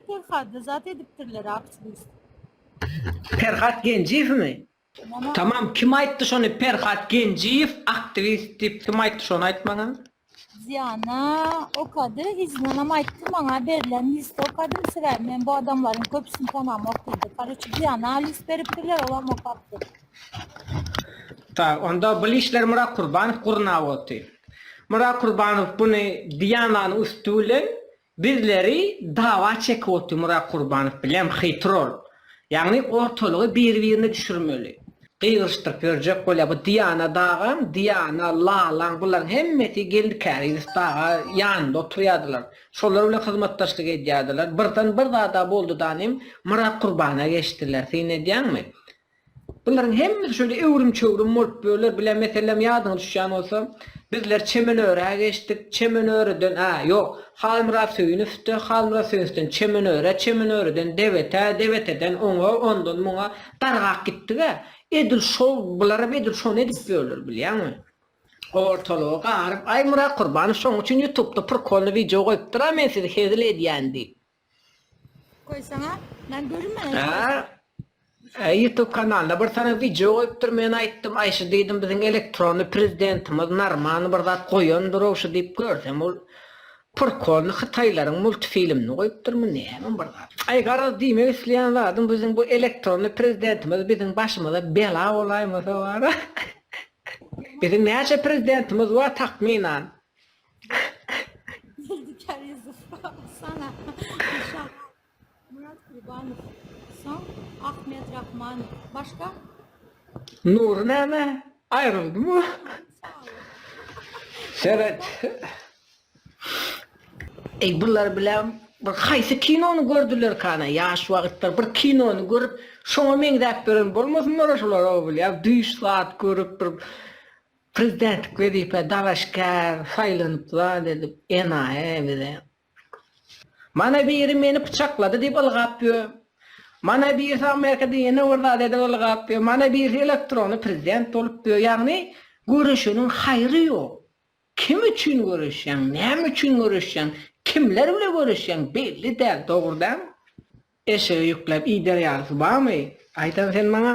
Perhatly zat edipdirler apsdis. Perhat Genjiyewmi? Tamam kim aýtdy şony Perhat Genjiýew aktiwist diýip kim aýtdy şony aýt maňa? Zyýana okady, yzyndanam aýtdy maňa berlen list okadym, sebäbi men bu adamlaryň köpüsini tanamok diýdi. Karoçi Zyýana list beripdirler, olam okapdyr. Tak, onda bu listleri Myrat Kurbanow gurnap otyr. Myrat Kurbanow buny Diýananyň üsti bilen Bizleri dawa çekip oturmyra kurbanow bilem xy trol yagny ortalygy bir birine düşürmeli gygyryşdyryp yörjek bolya bu diana dagam diana lalaň bularyň hemmesi geldi kari yusuf daga yanynda oturyadylar şolar bilen hyzmatdaşlyk edyadylar birden bir zada boldy danym myrat kurbana geçdiler syn edyaňmi Bularyň hemmesi şöyle öwrüm-çöwrüm bolup böler. Bile meselem ýadyňa düşýän bolsa, bizler Çemenöre geçdik, Çemenöreden, a, ýok, Halmyrat Söýünowde, Halmyrat Söýünowden Çemenöre, Çemenöreden Debete, Debeteden oňa, ondan muňa dargap gitdig-ä. Edil şol, bularam edil şony edip böler, bilýäňmi? Ortalygy garyp, Aý, Myrat Kurbanow şoň üçin ýutubda prikolnyý wideo goýupdyr-a, men sizi hezil edýän diýip. Koy sana. Ben görünmeden. Ha? E, YouTube kanalynda bir tane video goýupdyr. Men aýtdym, Aýşe diýdim, biziň elektronly prezidentimiz Narman bir zat goýandyr ogşy diýip görsem ol Purkolny Hytaýlaryň multfilmini goýupdyrmy näme bir zat. Aý garaz diýmek isleýän zadym biziň bu elektronly prezidentimiz biziň başymyza bela bolaýmasa bar. biziň näçe prezidentimiz bar takmynan? Zülfikar Yusuf sana Şah Murat Kurbanov son Ahmet Rahman başka Nur näme? Aýryldy mı? Seret. Ey bunlar bilen bir haýsy kinony gördüler kana ýaş wagtlar bir kinony görüp şoňa meňzäp beren bolmasynlar şolar o bilýär düýş zat görüp bir Prezidentlik wezipä dalaşgär saýlanyp zat edip enaýy bize. Mana biri meni pyçaklady diýip ylgap ýör. Mana birisi Amerikada ýene bir zat edip ylgap ýör. Mana birisi elektrony prezident bolup ýör. Ýagny göreşeniň haýry ýok. Kim üçin göreşýäň, näme üçin göreşýäň, kimler bile göreşýäň belli däl, dogry dälmi? Eşege ýükläp iýder ýalysyy barmy? Aýdan sen maňa.